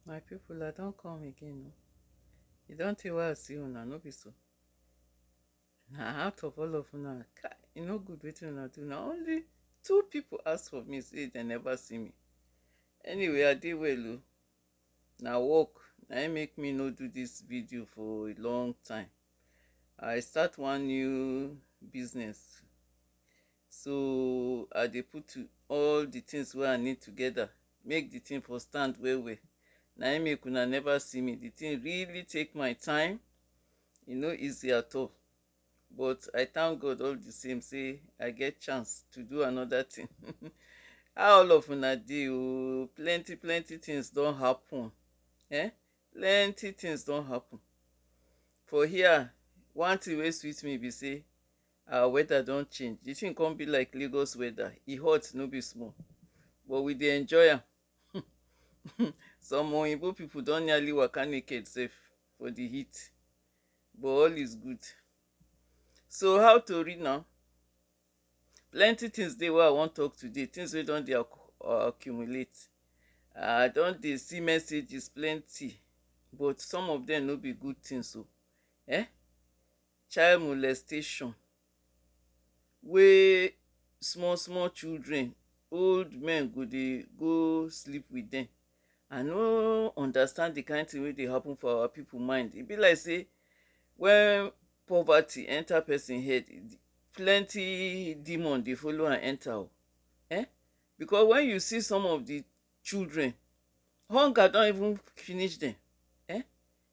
My people I don come again o, e don tey wey I see una no be so, na out of all of una kai e no good wetin una do na only two people ask for me say dem never see me, anyway I dey well o, na work na im make me no do dis video for a long time, I start one new business So I dey put all the things wey I need together make the thing for stand well well. Na im make una never see me. The thing really take my time. E no easy at all. But I thank God all the same say I get chance to do another thing. How all of una dey o? Plenty plenty things don happen. Eh? Plenty things don happen. For here, one thing wey sweet me be say our weather don change the thing come be like lagos weather e hot no be small but we dey enjoy am some oyibo people don nearly waka naked sef for the heat but all is good so how tori now plenty things dey wey i wan talk today things wey don dey accumulate i don dey see messages plenty but some of them no be good things o eh Child molestation wey small small children, old men go dey go sleep with dem. I no understand the kind thing wey dey happen for our people mind. E be like sey when poverty enter person head, plenty demon dey follow am enter o. um Because when you see some of the children, hunger don even finish dem. um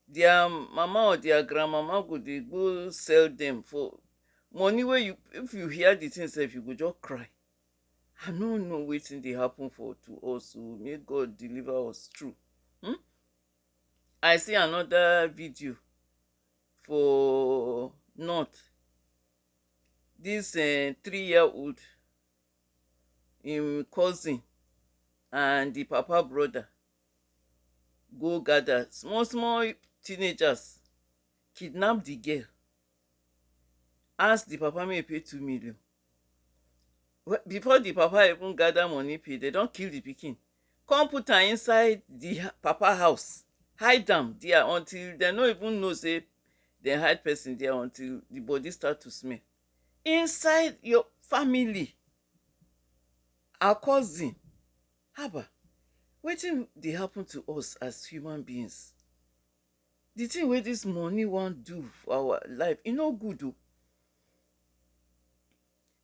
their mama or their grandmama go dey go sell them for money wey you if you hear the thing sef you go just cry i no know wetin dey happen for to us o oh. may god deliver us true hmm? i see another video for north this uh, three year old im cousin and the papa brother go gather small small teenagers kidnap the girl ask the papa make e pay two million before the papa even gather money pay dem don kill the pikin come put am inside the papa house hide am there until dem no even know say dem hide person there until the body start to smell inside your family her cousin Haba! Wetin dey happen to us as human beings? The thing wey this money wan do for our life, e no good o.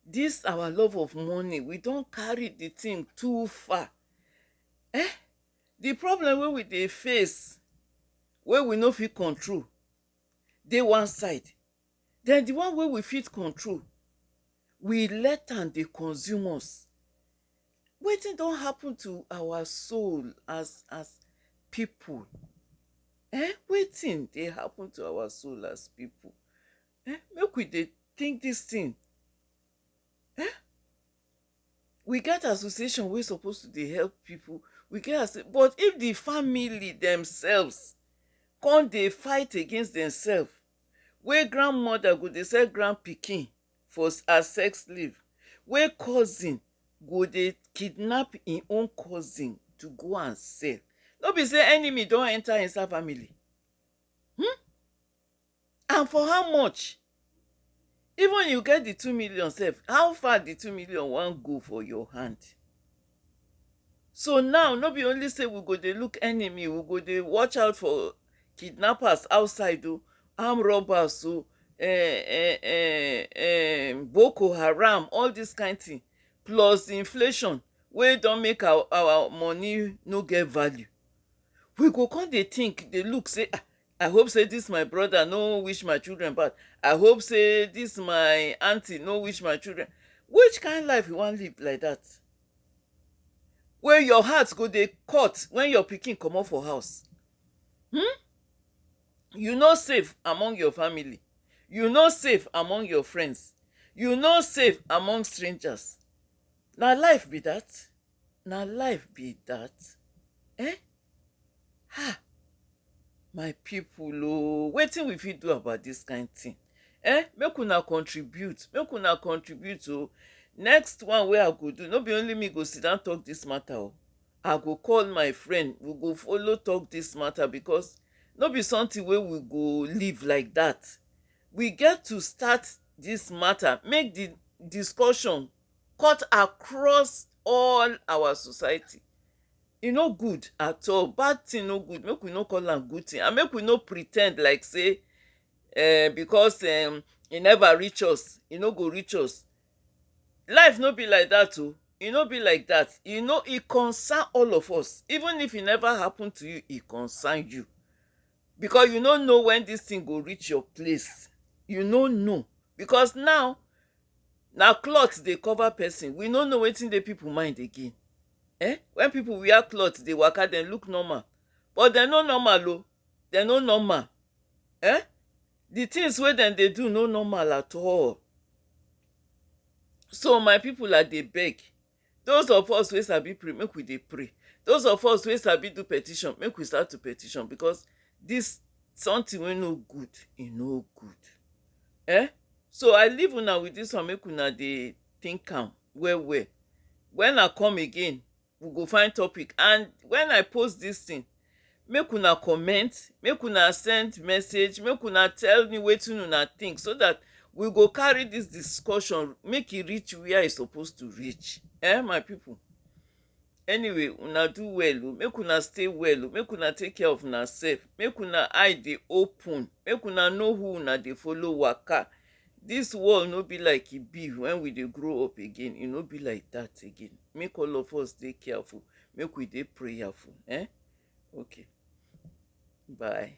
This our love of money, we don carry the thing too far. Eh! The problem wey we dey face, wey we no fit control dey one side, Then di one wey we fit control, we let am dey consume us. Wetin don happun to our soul as as pipo? Eh wetin dey happun to our soul as pipo? Eh make we dey tink dis tin eh we get association wey suppose to dey help pipo we get as but if di family demsefs come dey fight against demsefs wey grandmother go dey sell grand pikin for as sex slave, wey cousin go dey kidnap im own cousin to go and sell. No be sey enemy don enter inside family? um and for how much? Even you get the two million sef, how far the two million wan go for your hand? So now, no be only say we go dey look enemy, we go dey watch out for kidnappers outside o, armed robbers o, eh, eh, eh, eh, Boko Haram, all this kind thing, plus inflation wey don make our, our money no get value. We go come dey think, dey look say, ah, I hope say this my brother no wish my children bad. I hope say this my auntie no wish my children. Which kind life you wan live like that? Wey your heart go dey cut when your pikin comot for house. Hmm? You no safe among your family. You no safe among your friends. You no safe among strangers. Na life be that. Na life be dat um um my pipu oo wetin we fit do about dis kind thing um make una contribute make una contribute oo next one wey I go do no be only me go sit down talk dis matter oo I go call my friend we go follow talk dis matter because no be something wey we go leave like dat we get to start dis matter make de discussion cut across all our society e no good at all bad thing no good make we no call am good thing and make we no pre ten d like sey um because um e never reach us e no go reach us life no be like that oh e no be like that e no e concern all of us even if e never happen to you e concern you because you no know when this thing go reach your place you no know because now na cloth dey cover person we no know wetin dey people mind again eh when people wear cloth dey waka dem look normal but dem no normal o dem no normal eh the things wey dem dey do no normal at all so my people i dey beg Those of us wey sabi pray make we dey pray those of us wey sabi do petition make we start to petition because this something wey no good e no good um so I leave una with this one make una dey think am well well when I come again we go find topic and when I post this thing Make una comment, make una send message, make una tell me wetin una think so dat we go carry dis discussion make e reach where e suppose to reach eh my people. Anyway una do well o, make una stay well o, make una take care of una self, make una eye dey open, make una know who una dey follow waka. Dis world no be like e be when we dey grow up again, e no be like that again. Make all of us dey careful, make we dey prayerful. Eh? Okay. Bye.